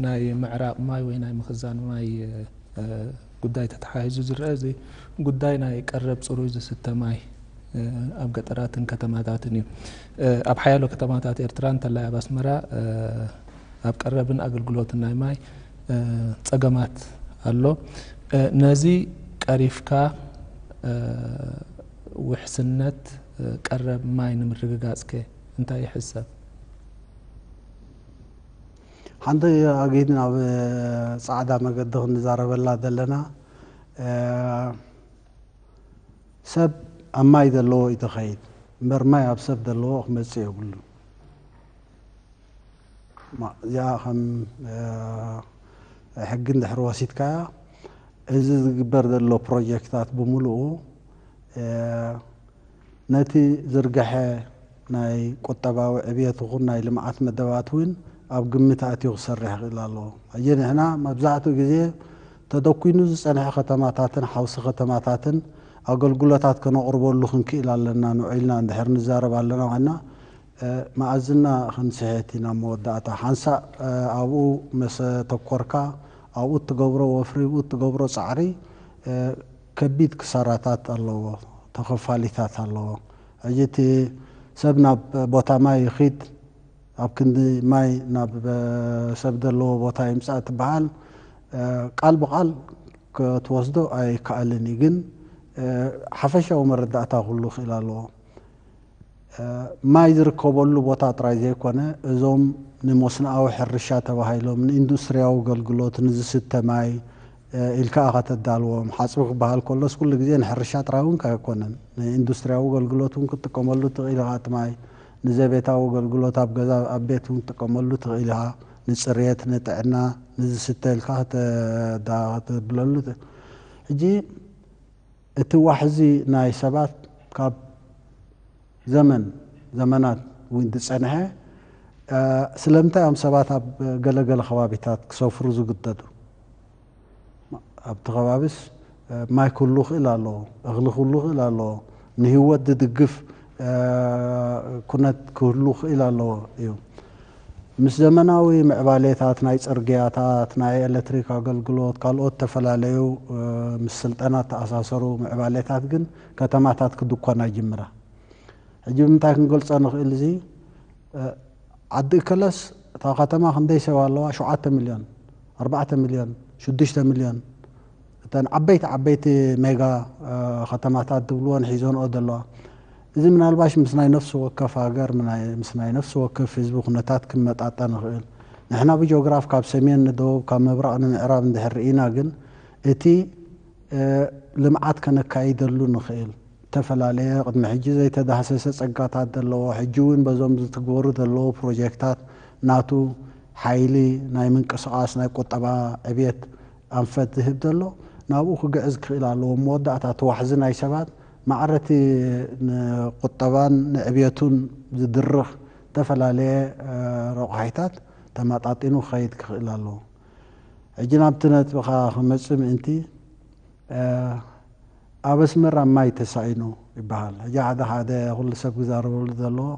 ናይ ምዕራቕ ማይ ወይ ናይ ምኽዛን ማይ ጉዳይ ተተሓሒዙ ዝረአ እዚ ጉዳይ ናይ ቀረብ ፅሩይ ዝስተ ማይ ኣብ ገጠራትን ከተማታትን እዩ። ኣብ ሓያሎ ከተማታት ኤርትራ እንተላይ ኣብ ኣስመራ ኣብ ቀረብን ኣገልግሎትን ናይ ማይ ጸገማት ኣሎ። ነዚ ቀሪፍካ ውሕስነት ቀረብ ማይ ንምርግጋጽከ እንታይ ይሕሰብ? ሓንቲ ኣጊድ ናብ ጻዕዳ መገዲ ክንዛረበላ ዘለና ሰብ ኣብ ማይ ዘለዎ እዩ ተኸይድ እምበር ማይ ኣብ ሰብ ዘለዎ ክመጽእ የብሉ እዚኣ ከም ሕጊ እንድሕር ወሲድካያ እዚ ዝግበር ዘሎ ፕሮጀክታት ብምልኡ ነቲ ዝርገሐ ናይ ቁጠባዊ ዕብየት ይኹን ናይ ልምዓት መደባት እውን ኣብ ግምት ኣእትዩ ክሰርሕ ይኽእል ኣሎ። ሕጂ ንሕና መብዛሕትኡ ግዜ ተደኲኑ ዝጸንሐ ከተማታትን ሓውሲ ከተማታትን ኣገልግሎታት ከነቕርበሉ ክንክእል ኣለና ንውዒልና እንድሕር ንዛረብ ኣለና ኮይና መኣዝና ክንስሕት ኢና። ኣብ መወዳእታ ሓንሳእ ኣብኡ መሰ ተኮርካ ኣብኡ እትገብሮ ወፍሪ ኣብኡ እትገብሮ ጻዕሪ ከቢድ ክሳራታት ኣለዎ ተኸፋሊታት ኣለዎ ሕጂ እቲ ሰብ ናብ ቦታ ማይ ይኺድ ኣብ ክንዲ ማይ ናብ ሰብ ደለዎ ቦታ ይምጻእ ትበሃል ቃል ብቓል ክትወስዶ ኣይከኣልን እዩ ግን ሓፈሻዊ መረዳእታ ክህሉ ክእል ኣለዎ። ማይ ዝርከበሉ ቦታ ጥራይ ዘይኮነ እዞም ንመስኖኣዊ ሕርሻ ተባሂሎም፣ ንኢንዱስትሪያዊ ኣገልግሎት፣ ንዝስተ ማይ ኢልካ ኢኻ ተዳልዎም። ሓጽቢ ክበሃል ከሎስ ኩሉ ግዜ ንሕርሻ ጥራይ እውን ኣይኮነን። ንኢንዱስትሪያዊ ኣገልግሎት እውን ክትጥቀመሉ ትኽእል ኢኻ እቲ ማይ። ንዘቤታዊ ኣገልግሎት ኣብ ገዛ ኣብ ቤት እውን ክትጥቀመሉ ትኽእል ኢኻ። ንጽሬት፣ ንጥዕና፣ ንዝስተ ኢልካ ከተብለሉ ትኽእል። ሕጂ። እቲ ዋሕዚ ናይ ሰባት ካብ ዘመን ዘመናት እውን ዝጸንሐ፣ ስለምንታይ እዮም ሰባት ኣብ ገለ ገለ ከባቢታት ክሰፍሩ ዝግደዱ? ኣብቲ ከባቢስ ማይ ክህሉ ይኽእል ኣሎ፣ እኽሊ ክህሉ ይኽእል ኣሎ፣ ንህይወት ዝድግፍ ኩነት ክህሉ ክእል ኣለዎ እዩ። ምስ ዘመናዊ ምዕባሌታት ናይ ጽርግያታት፣ ናይ ኤለትሪክ ኣገልግሎት፣ ካልኦት እተፈላለዩ ምስ ስልጠና እተኣሳሰሩ ምዕባሌታት ግን ከተማታት ክድኮና ይጅምራ። ሕጂ ብምንታይ ክንገልጾ ንክእል እዚ? ዓዲ እከለስ እታ ከተማ ክንደይ ሰብ ኣለዋ? ሸውዓተ ሚልዮን፣ ኣርባዕተ ሚልዮን፣ ሽዱሽተ ሚልዮን፣ እተን ዓበይቲ ዓበይቲ ሜጋ ከተማታት ዝብልወን ሒዘንኦ ዘለዋ እዚ ምናልባሽ ምስ ናይ ነፍሲ ወከፍ ሃገር ምስ ናይ ነፍሲ ወከፍ ህዝቢ ኩነታት ክመጣጠን ይኽእል ንሕና ብጆግራፍ ካብ ሰሜን ንደቡብ ካብ ምብራቕ ንምዕራብ እንድሕር ርኢና ግን እቲ ልምዓት ከነካይደሉ ንኽእል እተፈላለየ ቅድሚ ሕጂ ዘይተዳህሰሰ ጸጋታት ዘለዎ ሕጂ እውን በዞም ዝትግበሩ ዘለዉ ፕሮጀክታት ናቱ ሓይሊ ናይ ምንቅስቓስ ናይ ቁጠባ ዕብየት ኣንፈት ዝህብ ዘሎ ናብኡ ክግዕዝ ክኽእል ኣለዎ። ኣብ መወዳእታ እቲ ዋሕዚ ናይ ሰባት ማዕረ እቲ ንቁጠባን ንዕብየቱን ዝድርኽ እተፈላለየ ረቋሒታት ተማጣጢኑ ክኸይድ ክኽእል ኣለዎ። ሕጂ ናብቲ ነጥብኻ ክመጽእ ምእንቲ፣ ኣብ ኣስመራ ማይ ተሳኢኑ ይበሃል። ሕጂ ሓደ ሓደ ኩሉ ሰብ ክዛረበሉ ዘለዎ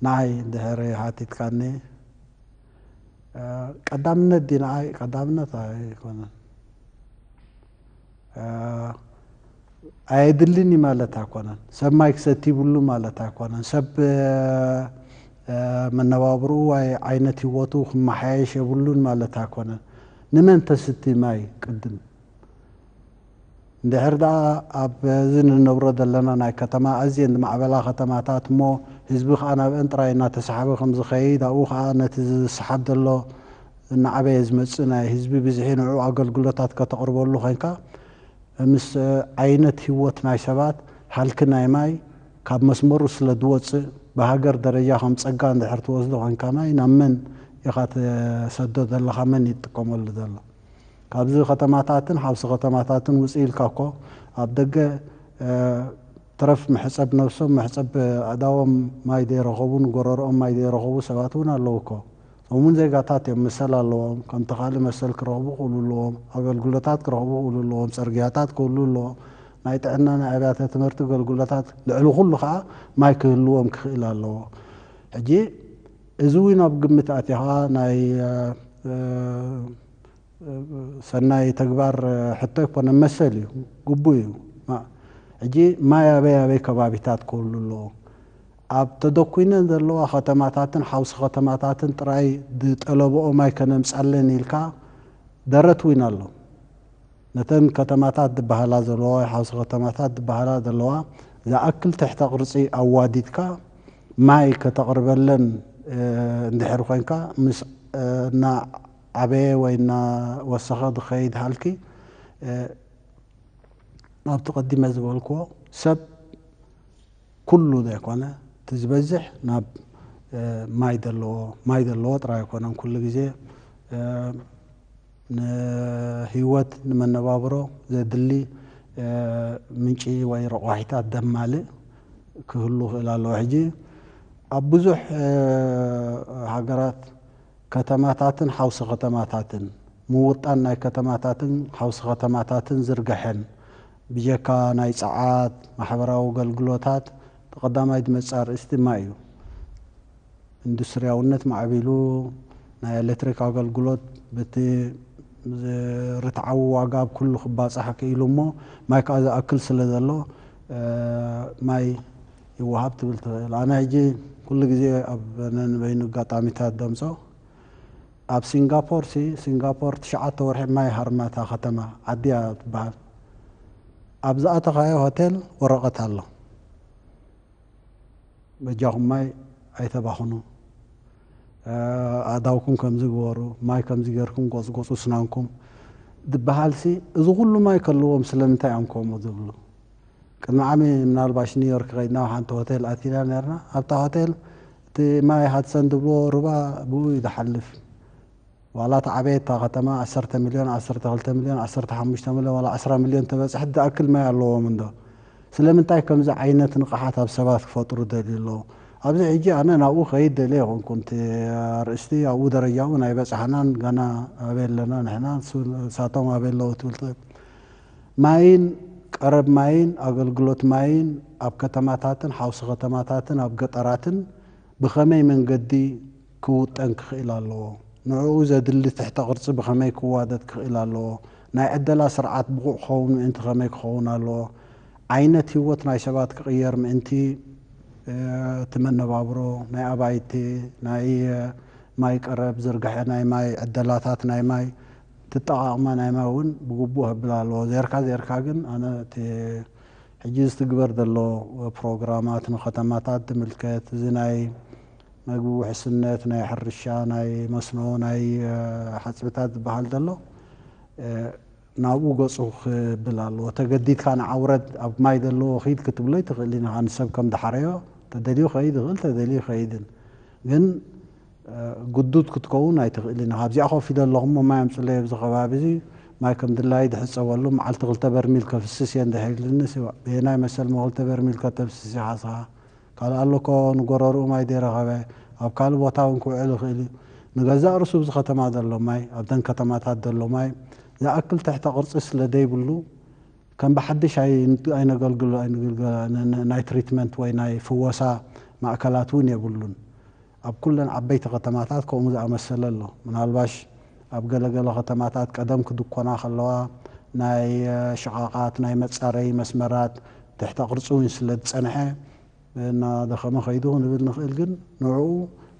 ንዓይ እንድሕሪ ሓቲትካኒ ቀዳምነት ድዩ ንዓይ ቀዳምነት ኣይኮነን ኣየድልን እዩ ማለት ኣይኮነን ሰብ ማይ ክሰቲ ይብሉ ማለት ኣይኮነን ሰብ መነባብርኡ ወይ ዓይነት ህይወቱ ክመሓየሽ የብሉን ማለት ኣይኮነን ንመን ተስቲ ማይ ቅድም እንድሕር ደኣ ኣብዚ ንነብሮ ዘለና ናይ ከተማ ኣዝየን ዝማዕበላ ከተማታት እሞ ህዝቢ ከኣ ናብኣን ጥራይ እናተሳሓበ ከም ዝኸይድ ኣብኡ ከኣ ነቲ ዝሰሓብ ዘሎ እናዓበየ ዝመጽእ ናይ ህዝቢ ብዝሒ ንዕኡ ኣገልግሎታት ከተቕርበሉ ዄንካ ምስ ዓይነት ህይወት ናይ ሰባት ሃልኪ ናይ ማይ ካብ መስመሩ ስለ ዝወጽእ ብሃገር ደረጃ ከም ጸጋ እንድሕር ትወስዶ ዄንካ ማይ ናብ መን ኢኻ ትሰዶ ዘለኻ መን እዩ ዝጥቀመሉ ዘሎ ካብዚ ከተማታትን ሓውሲ ከተማታትን ውጽእ ኢልካ እኮ ኣብ ደገ ትረፍ መሕጸብ ነብሶም መሕጸብ ኣእዳዎም ማይ ዘይረኸቡ ንጎረርኦም ማይ ዘይረኸቡ ሰባት እውን ኣለዉ እኮ። እዞም እውን ዜጋታት እዮም መሰል ኣለዎም ከምቲ ካልእ መሰል ክረኽቡ ክእሉ ኣለዎም ኣገልግሎታት ክረኽቡ ክእሉ ኣለዎም ጽርግያታት ክህሉ ኣለዎ ናይ ጥዕና ናይ ኣብያተ ትምህርቲ ገልግሎታት ልዕሊ ኩሉ ከኣ ማይ ክህልዎም ክኽእል ኣለዎ ሕጂ እዚ እውን ኣብ ግምት ኣእቲኻ ናይ ሰናይ ተግባር ሕቶ ኣይኮነን መሰል እዩ ግቡእ እዩ ሕጂ ማይ ኣበይ ኣበይ ከባቢታት ክህሉ ኣለዎ ኣብ ተደኩነን ዘለዋ ከተማታትን ሓውሲ ከተማታትን ጥራይ ዝጠለበኦ ማይ ከነምጻለን ኢልካ ደረት ዊን ኣሎ ነተን ከተማታት ዝበሃላ ዘለዋ ወይ ሓውሲ ከተማታት ዝበሃላ ዘለዋ ዝኣክል ትሕተ ቅርጺ ኣዋዲድካ ማይ ከተቕርበለን እንድሕር ኮንካ ምስ እና ኣበየ ወይ እና ወሰኸ ዝኸይድ ሃልኪ ናብቲ ቀዲመ ዝበልክዎ ሰብ ኩሉ ዘይኮነ እቲ ዝበዝሕ ናብ ማይ ዘለዎ ማይ ዘለዎ ጥራይ ኣይኮነን ኩሉ ግዜ ንህይወት ንመነባብሮ ዘድሊ ምንጪ ወይ ረቋሒታት ደማልእ ክህሉ ክእል ኣለዎ ሕጂ ኣብ ብዙሕ ሃገራት ከተማታትን ሓውሲ ከተማታትን፣ ምውጣን ናይ ከተማታትን ሓውሲ ከተማታትን ዝርገሐን፣ ብጀካ ናይ ጸዓት፣ ማሕበራዊ ኣገልግሎታት፣ እቲ ቀዳማይ ዝመጽእ ኣርእስቲ ድማ እዩ። ኢንዱስትርያውነት ማዕቢሉ፣ ናይ ኤለትሪክ ኣገልግሎት በቲ ርትዓዊ ዋጋ ኣብ ኩሉ ክባጻሕ ክኢሉ እሞ፣ ማይ ከኣ ዝኣክል ስለ ዘሎ፣ ማይ፣ ይወሃብ ትብል ትኽእል። ኣነ ሕጂ ኩሉ ግዜ ኣብ ነንበይኑ ኣጋጣሚታት ደምጾ ኣብ ሲንጋፖር ሲ ሲንጋፖር ትሽዓተ ወርሒ ማይ ሃርማ እታ ከተማ ዓዲ እያ ትበሃል ኣብ ዝኣተኻዮ ሆቴል ወረቐት ኣሎ በጃኹም ማይ ኣይተባኽኑ ኣእዳውኩም ከምዚ ግበሩ ማይ ከምዚ ጌርኩም ጎጽጎጹ ስናንኩም ዝበሃልሲ እዚ ኩሉ ማይ ከለዎም ስለምንታይ እዮም ከምኡ ዝብሉ ቅድሚ ዓሚ ምናልባሽ ኒውዮርክ ከይድና ኣብ ሓንቲ ሆቴል ኣቲና ኔርና። ኣብታ ሆቴል እቲ ማይ ሃድሰን ዝብልዎ ሩባ ብኡ እዩ ዝሓልፍ። ዋላ እታ ዓበየት እታ ከተማ ዓሰርተ ሚልዮን፣ ዓሰርተ ክልተ ሚልዮን፣ ዓሰርተ ሓሙሽተ ሚልዮን ዋላ ዕስራ ሚልዮን ተበጽሐት ዝኣክል ማይ ኣለዎም እንዶ ስለምንታይ ከምዚ ዓይነት ንቕሓት ኣብ ሰባት ክፈጥሩ ደልዩ ኣለዉ? ኣብዚ ሕጂ ኣነ ናብኡ ክኸይድ ደልየ ኣይኮንኩን። እቲ ኣርእስቲ ኣብኡ ደረጃ እውን ኣይበጻሕናን ገና ኣበይ ኣለና ንሕና ንሳቶም ኣበይ ኣለዉ ትብል ትኽእል። ማይን ቀረብ ማይን ኣገልግሎት ማይን ኣብ ከተማታትን ሓውሲ ከተማታትን ኣብ ገጠራትን ብኸመይ መንገዲ ክውጠን ክኽእል ኣለዎ፣ ንዕኡ ዘድሊ ትሕተ ቅርጺ ብኸመይ ክዋደድ ክኽእል ኣለዎ፣ ናይ ዕደላ ስርዓት ብቑዕ ክኸውን ምእንቲ ከመይ ክኸውን ኣለዎ፣ ዓይነት ህይወት ናይ ሰባት ክቕየር ምእንቲ፣ እቲ መነባብሮ ናይ ኣባይቲ፣ ናይ ማይ ቀረብ፣ ዝርግሐ ናይ ማይ፣ ዕደላታት ናይ ማይ፣ እትጠቓቕማ ናይ ማይ እውን ብግቡእ ሀብላ ኣለዎ። ዜርካ ዜርካ ግን ኣነ እቲ ሕጂ ዝትግበር ዘሎ ፕሮግራማት ንከተማታት ዝምልከት እዚ ናይ መግቢ ውሕስነት፣ ናይ ሕርሻ፣ ናይ መስኖ፣ ናይ ሓጽብታት ዝበሃል ዘሎ ናብኡ ገጹ ክብል ኣለዎ። ተገዲድካ ንዓ ውረድ ኣብ ማይ ዘለዎ ኪድ ክትብሎ ኣይትኽእልን ኢኻ ንሰብ ከም ዝሓረዮ ተደልዩ ክኸይድ ይኽእል ተደልዩ ኣይከይድን ግን ግዱድ ክትከውን ኣይትኽእልን ኢኻ። ኣብዚኣ ኮፍ ኢለ ኣለኹ እሞ ማይ ኣምጹለይ ኣብዚ ከባቢ እዚ ማይ ከም ድላየይ ድሕጸበሉ መዓልቲ ክልተ በርሚል ከፍስስ እየ እንድሕር ኢልንስ በየናይ መሰል እሞ ክልተ በርሚል ከተፍስስ ኢኻ እስኻ ካልእ ኣሎ እኮ ንጎረርኡ ማይ ዘይረኸበ ኣብ ካልእ ቦታ እውን ክውዕል ይኽእል እዩ ንገዛእ ርእሱ ኣብዚ ከተማ ዘሎ ማይ ኣብተን ከተማታት ዘሎ ማይ ዝኣክል ትሕተ ቅርጺ ስለ ዘይብሉ ከም ብሓድሽ ኣይነገልግሎን ናይ ትሪትመንት ወይ ናይ ፍወሳ ማእከላት እውን የብሉን ኣብ ኩለን ዓበይቲ ከተማታት ከምኡ ዝኣመሰለ ኣሎ። ምናልባሽ ኣብ ገለ ገለ ከተማታት ቀደም ክድኮና ከለዋ ናይ ሽቓቓት ናይ መጻረዪ መስመራት ትሕተ ቅርጺ እውን ስለ ዝጸንሐ እናደኸመ ከይዱ ክንብል ንኽእል። ግን ንዕኡ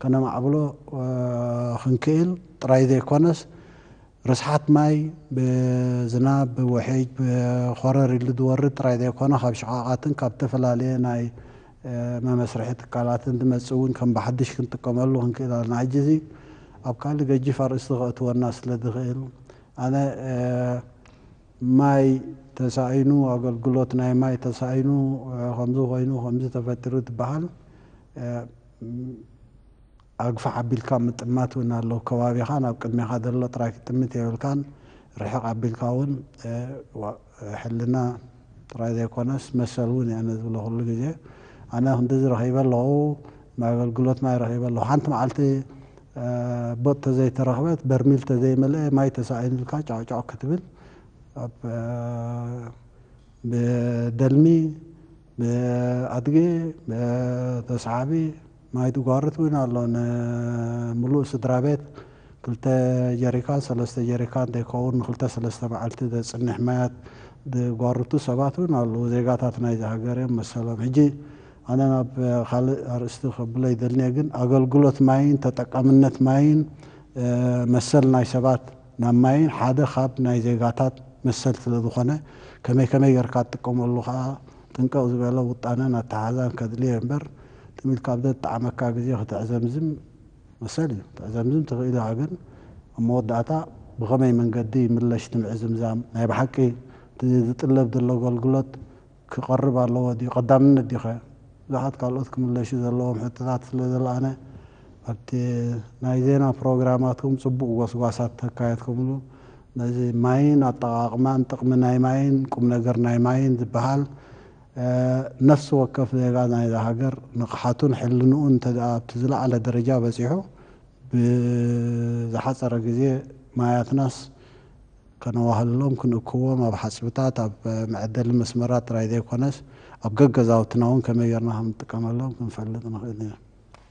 ከነማዕብሎ ክንክእል ጥራይ ዘይኮነስ ርስሓት ማይ ብዝናብ፣ ብውሒጅ፣ ብኾረር ኢሉ ዝወርድ ጥራይ ዘይኮነ ካብ ሽቓቓትን ካብ ዝተፈላለየ ናይ መመስርሒ ትካላትን ዝመጽእ እውን ከም ብሓድሽ ክንጥቀመሉ ክንክእል ኣለና። ሕጂ እዚ ኣብ ካልእ ገጂፍ ኣርእስቲ ከእትወና ስለ ዝኽእል ኣነ ማይ ተሳኢኑ ኣገልግሎት ናይ ማይ ተሳኢኑ ከምዚ ኮይኑ ከምዚ ተፈጢሩ ዝብሃል ኣግፋሕ ኣቢልካ ምጥማት ውን ኣሎ ከባቢኻን ኣብ ቅድሜኻ ዘሎ ጥራይ ክትጥምት የብልካን ርሕቅ ኣቢልካ ውን ሕልና ጥራይ ዘይኮነስ መሰል ውን እየ ኣነ ዝብሎ ኩሉ ግዜ ኣነ ክንድዚ ረኺበ ኣለኹ ናይ ኣገልግሎት ማይ ረኺበ ኣለኹ ሓንቲ መዓልቲ ቦጥ ተዘይተረኽበት በርሚል ተዘይመልኤ ማይ ተሳኢኑ ኢልካ ጫዕጫዕ ክትብል ኣብ ብደልሚ ብኣድጊ ብተስዓቢ ማይ ድጓርት ውን ኣሎ ን ምሉእ ስድራቤት ክልተ ጀሪካን ሰለስተ ጀሪካን ደይከውን ን ክልተ ሰለስተ መዓልቲ ደጽንሕ ማያት ድጓርቱ ሰባት ውን ኣልዉ ዜጋታት ናይዚ ሃገር እዮም መሰሎም ሕጂ ኣነ ናብ ካልእ ኣርእስቲ ከብሎ ይደልንየ ግን ኣገልግሎት ማይን ተጠቃምነት ማይን መሰል ናይ ሰባት ናብ ማይን ሓደ ካብ ናይ ዜጋታት መሰል ስለ ዝኾነ ከመይ ከመይ ገርካ ትጥቀመሉ ከኣ ጥንቅቅ ዝበለ ውጣነን ኣተሓሕዛን ከድልዮ እየ እምበር ትም ኢልካ ኣብ ዘጣዓመካ ግዜ ክትዕዘምዝም መሰል እዩ ክትዕዘምዝም ትኽእል ኢኻ ግን ኣብ መወዳእታ ብኸመይ መንገዲ ይምለሽ ትምዕዝምዛም ናይ ብሓቂ እቲ ዝጥለብ ዘሎ ኣገልግሎት ክቐርብ ኣለዎ ድዩ ቀዳምነት ድዩኸ ብዙሓት ካልኦት ክምለሹ ዘለዎም ሕቶታት ስለ ዘለኣነ ኣብቲ ናይ ዜና ፕሮግራማትኩም ጽቡቕ ጎስጓሳት ተካየድኩምሉ ነዚ ማይን ኣጠቓቕማን ጥቕሚ ናይ ማይን ቁም ነገር ናይ ማይን ዝበሃል ነፍሲ ወከፍ ዜጋ ናይዛ ሃገር ንቕሓቱን ሕልንኡን እንተድኣ ኣብቲ ዝለዓለ ደረጃ በጺሑ ብዝሓጸረ ግዜ ማያትናስ ከነዋህልሎም ክንእክቦም ኣብ ሓጽብታት ኣብ መዐደሊ መስመራት ጥራይ ዘይኮነስ ኣብ ገገዛውትና'ውን ከመይ ጌርና ከም እንጥቀመሎም ክንፈልጥ ንኽእል ኢና።